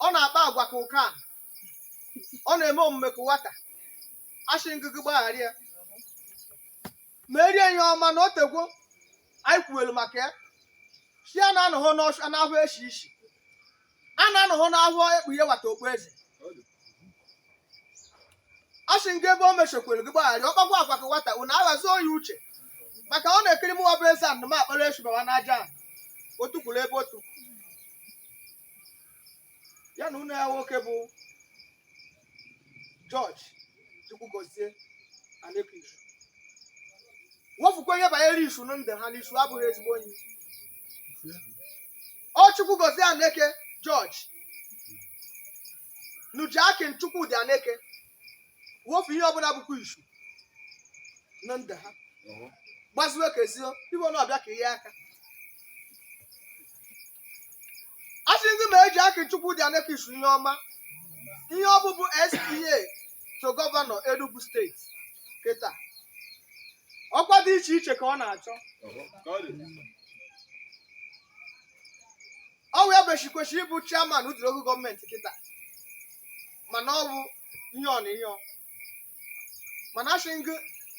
ọ na-akpa agwa ka ụka a. ọ na-eme omume ka nwata asị ngị gụ gbaghara ya ma erie ihe ọma na o tegwo anyị kwuwelu maka ya si ya na anọghị n'ọsụ anahụ eshi isi a na-anọghọ anahụ ekpughe wata okpu eze a sị ngị ebe o meshekwere gị gbaghara ọkpakwa agwa ka nwata unu aghazuo ya uche maka ọ na-ekiri mụwa bụ eze anụ m akpara esu bawa n'aja ahụ otu kwuru ebe otu ya na unu ya nwoke bụ George Chukwugozie Aneke Isu wofukwa onye banyere isu na ndụ ha na isu abụghị ezigbo onye ọ Chukwugozie Aneke George na Jackin Chukwudi Aneke wofu ihe ọbụla bụkwa isu na ndụ ha gbaziwe ka ezio ibe na-abịa ka ihe aka asị ngị mee Jackin Chukwudi Aneke Isu ihe ọma ihe ọ bụ bụ SPA to gọvanọ Enugu steeti kịta ọkwa dị iche iche ka ọ na-achọ ọ wee bechi kwesịrị ịbụ chairman Udi local gọọmenti kịta mana ọ bụ ihe ọ na ihe ọ mana asị ngị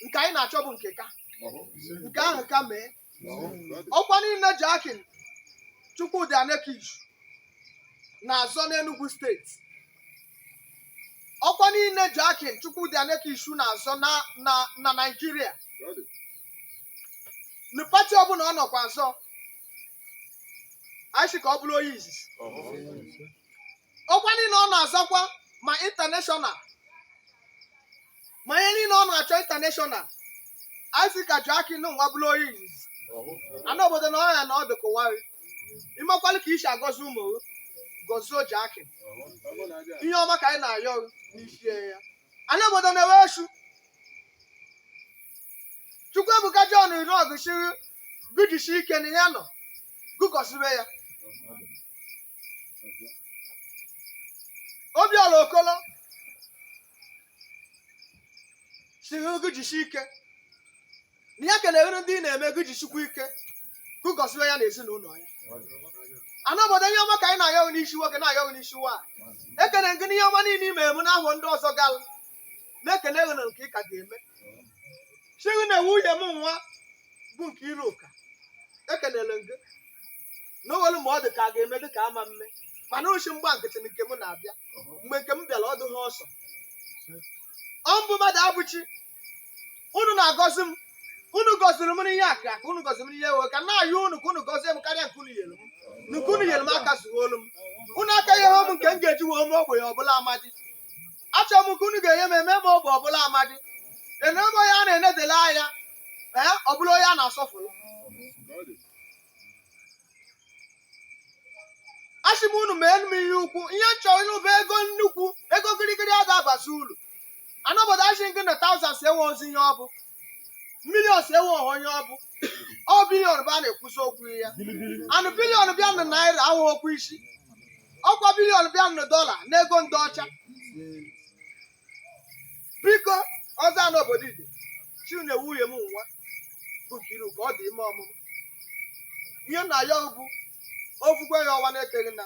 nke anyị na-achọ bụ nke ka nke ahụ ka mee ọkwa niile Jackin Chukwudi Aneke Isu na-azọ n'Enugu steeti ọkwa niile Jackin Chukwudi Aneke Isu na-azọ na na na Naịjirịa na pati ọbụla ọ nọkwa azọ anyị sị ka ọ bụrụ onye izizi ọkwa niile ọ na-azọkwa ma intaneshọnal ma ihe niile ọ na-achọ intaneshọnal anyị sị ka Jackin nwa bụrụ onye izizi ana obodo na ọ ya na ọdụ kụwarị imekwalụ ka i si agọzi ụmụ gọzie Jackin ihe ọma ka anyị na-ayọ n'isi ya ana obodo na-ewe esu Chukwuebuka John Irọgụ siri gụ jisi ike na ya nọ gụ gọzibe ya Obiọra Okolo siri gụ jisi ike na ya kelere ndị ị na-eme gụ jisikwa ike gụ gọzibe ya na ezinụlọ ya ana obodo ihe ọma ka anyị na-ayọ gị n'isi nwoke na-ayọ gị n'isi nwaanyị ekene ngị n'ihe ọma niile ime emu n'ahụ ndị ọzọ galụ na-ekele gị na nke ị ka ga-eme chighi na nwunye m nwa bụ Nkiruka ekelere m gị na o nwere ma ọ dị ka a ga-eme dị ka ama mme mana uchi mgba nkịtị na nke m na-abịa mgbe nke m bịara ọ dịghị ọsọ ọ mbụ mmadụ abụ chi unu na-agọzi m unu gọziri m n'ihe aka ka unu gọziri m n'ihe ewe ka m na-ayọ unu ka unu gọzie m karịa nke unu nyere m nke unu nyere m aka zuolu m unu aka ihe m nke m ga-eji wee mee ogbenye ọ bụlụ amadi achọrọ m ka unu ga-enye m eme ma ọ bụ ọ bụlụ amadi emee m onye a na-enedele anya ee ọ bụlụ onye a na-asọfụrụ asị m unu mee m ihe ukwu ihe m chọrọ ịnụ bụ ego nnukwu ego gịrịgịrị a ga-abazi ulu ana obodo asị gị na thousands enwehozi ihe ọ bụ millions enweho onye ọ bụ ọ billion bụ a na-ekwuzi okwu ya and billion bịa na naira ahụ okwu isi ọ kwa billion bịa na dọla na ego ndị ọcha biko ọzọ ana obodo ide chi na nwunye m nwa bụ Nkiruka ọ dị ime ọmụmụ ihe na ya bụ okwukwe ya ọwa na-eteghị na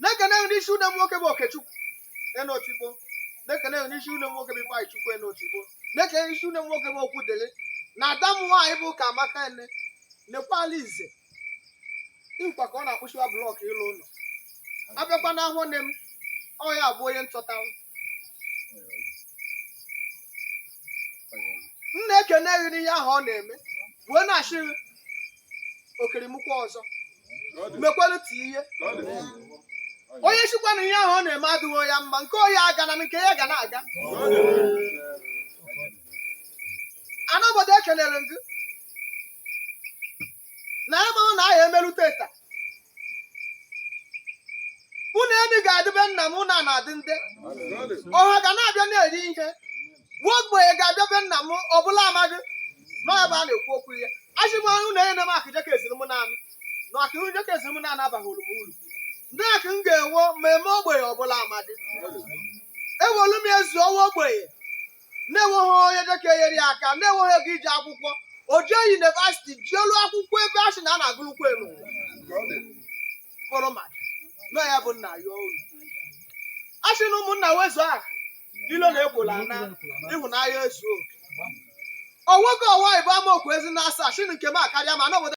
na-ekene gị n'isi une m nwoke bụ Okechukwu Enotigbo na-ekene gị n'isi une m nwoke bụ Ifeanyịchukwu Enotigbo na-ekene gị n'isi une m nwoke bụ Okwudịrị na ada m nwaanyị bụ Ụkamaka ene nekwala ize nkwa ka ọ na-akpụchiwa block ịlụ ụlọ abịakwa na ahụ nne m ọ ya bụ onye ntọtanwụ m na-ekene gị n'ihe ahụ ọ na-eme wee na-asị gị okerimụkwa ọzọ mekwere ti ihe onye sịkwa na ihe ahụ ọ na-eme adịghị ya mma nke onye agana nke ya ga na-aga ana obodo ekelere m gị na ebe ọ na ahịa emerụ teta unu emi ga-adị be nna m na na-adị ndị ọha ga na-abịa na-eri ihe nwa ogbenye ga-abịa be nna m ọ bụlụ amadi n'ebe a na-ekwu okwu ya asị m ọrụ na enye m akụ jeka ezuru m naanị na akụ jeka ezuru m naanị abaghịrụ m uru ndị akụ m ga-enwe m mee ogbenye ọ bụlụ amadi ewelu m ezi Ọwa ogbenye na-enweghị onye jeka enyere ya aka na-enweghị ego ije akwụkwọ o jee yunivasiti jeelu akwụkwọ ebe a sị na a na-agụlụkwa elu fọrọmat na ya bụ nna ya olu a sị na ụmụnna wezuga ilo na ekwolo ana ịhụnanya ezu oke o nwoke ọwa ibe Amaokwu ezi na asaa shi nke m akarịa ma na obodo